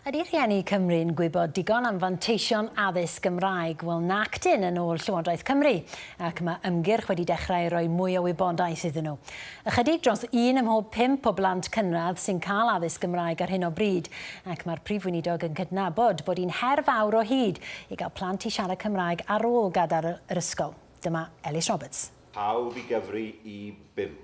Ydy rhieni Cymru'n gwybod digon am fanteision addysg Gymraeg? Wel, nac 'dyn, yn ôl Llywodraeth Cymru, ac mae ymgyrch wedi dechrau i roi mwy o wybodaeth iddyn nhw. Ychydig dros un ym mhob pump o blant cynradd sy'n cael addysg Gymraeg ar hyn o bryd, ac mae'r Prif Weinidog yn cydnabod bod hi'n her fawr o hyd i gael plant i siarad Cymraeg ar ôl gadael yr ysgol. Dyma Elis Roberts. Pawb i gyfri i bump.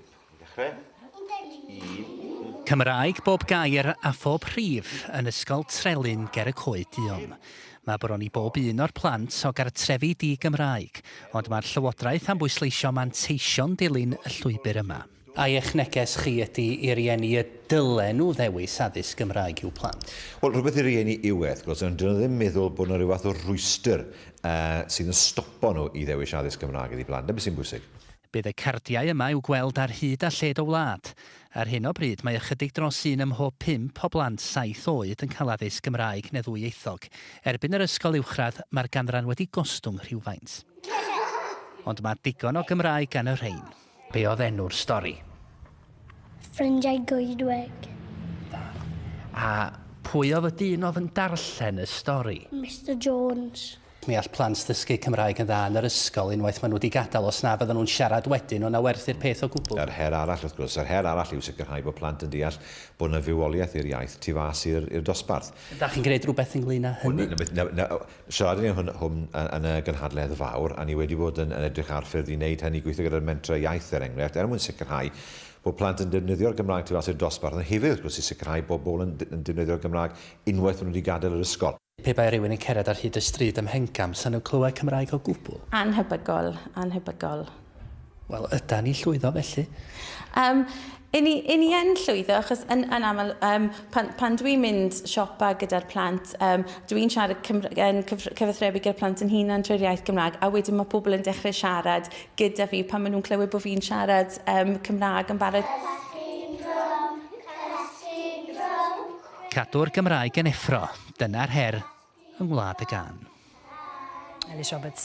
Cymraeg bob gair a phob rhif yn Ysgol Trelyn ger y Coed Duon. Mae bron i bob un o'r plant o gartrefi di-Gymraeg, ond mae'r Llywodraeth am bwysleisio manteision dilyn y llwybr yma. A eich neges chi ydy i rieni y dylen nhw ddewis addysg Gymraeg i'w plant? Wel, rhywbeth i rieni yw e, wrth gwrs, ond 'dyn nhw ddim meddwl bod 'na ryw fath o rwystr sydd yn stopo nhw i ddewis addysg Gymraeg iddi plant. 'Na beth sy'n bwysig. Bydd y cardiau yma i'w gweld ar hyd a lled y wlad. Ar hyn o bryd mae ychydig dros un ym mhob pump o blant saith oed yn cael addysg Gymraeg neu ddwyieithog. Erbyn yr ysgol uwchradd mae'r ganran wedi gostwng rhywfaint. Ond mae digon o Gymraeg gan y rhein. Be oedd enw'r stori? Ffrindiau Goedwig. Da. A pwy oedd y dyn oedd yn darllen y stori? Mister Jones. Mi all plant ddysgu Cymraeg yn dda yn yr ysgol unwaith maen nhw wedi gadael os na fyddan nhw'n siarad wedyn, ond na werth i'r peth o gwbl. Yr her arall, wrth gwrs, yr her arall yw sicrhau bod plant yn deall bod yna fywoliaeth i'r iaith tu fas i'r dosbarth. Ydach chi'n gwneud rhywbeth ynglŷn â hynny? Siaradon ni hwn yn y gynhadledd fawr a ni wedi bod yn edrych ar ffyrdd i wneud hynny, gweithio gyda'r mentrau iaith er enghraifft, er mwyn sicrhau bod plant yn defnyddio'r Gymraeg tu fas i'r dosbarth, ond hefyd wrth gwrs i sicrhau bod pobl yn defnyddio'r Gymraeg unwaith maen nhw wedi gadael yr ysgol. Pe bai rhywun yn cered ar hyd y stryd ym Mhengam, sa nhw'n clywed Cymraeg o gwbl. Annhebygol, annhebygol. Wel, ydan ni'n llwyddo felly? Yym, yn ni, yn ni yn llwyddo, achos yn, yn aml, um, pan, pan dwi'n mynd siopa gyda'r plant, um, dwi'n siarad Cymru, yn cyfathrebu gyda'r plant yn hunan trwy'r iaith Gymraeg, a wedyn mae pobl yn dechrau siarad gyda fi pan maen nhw'n clywed bod fi'n siarad um, Cymraeg yn barod. Cymraeg. Cadw'r Gymraeg yn effro, dyna'r her yng Ngwlad y Gân. Elis Roberts.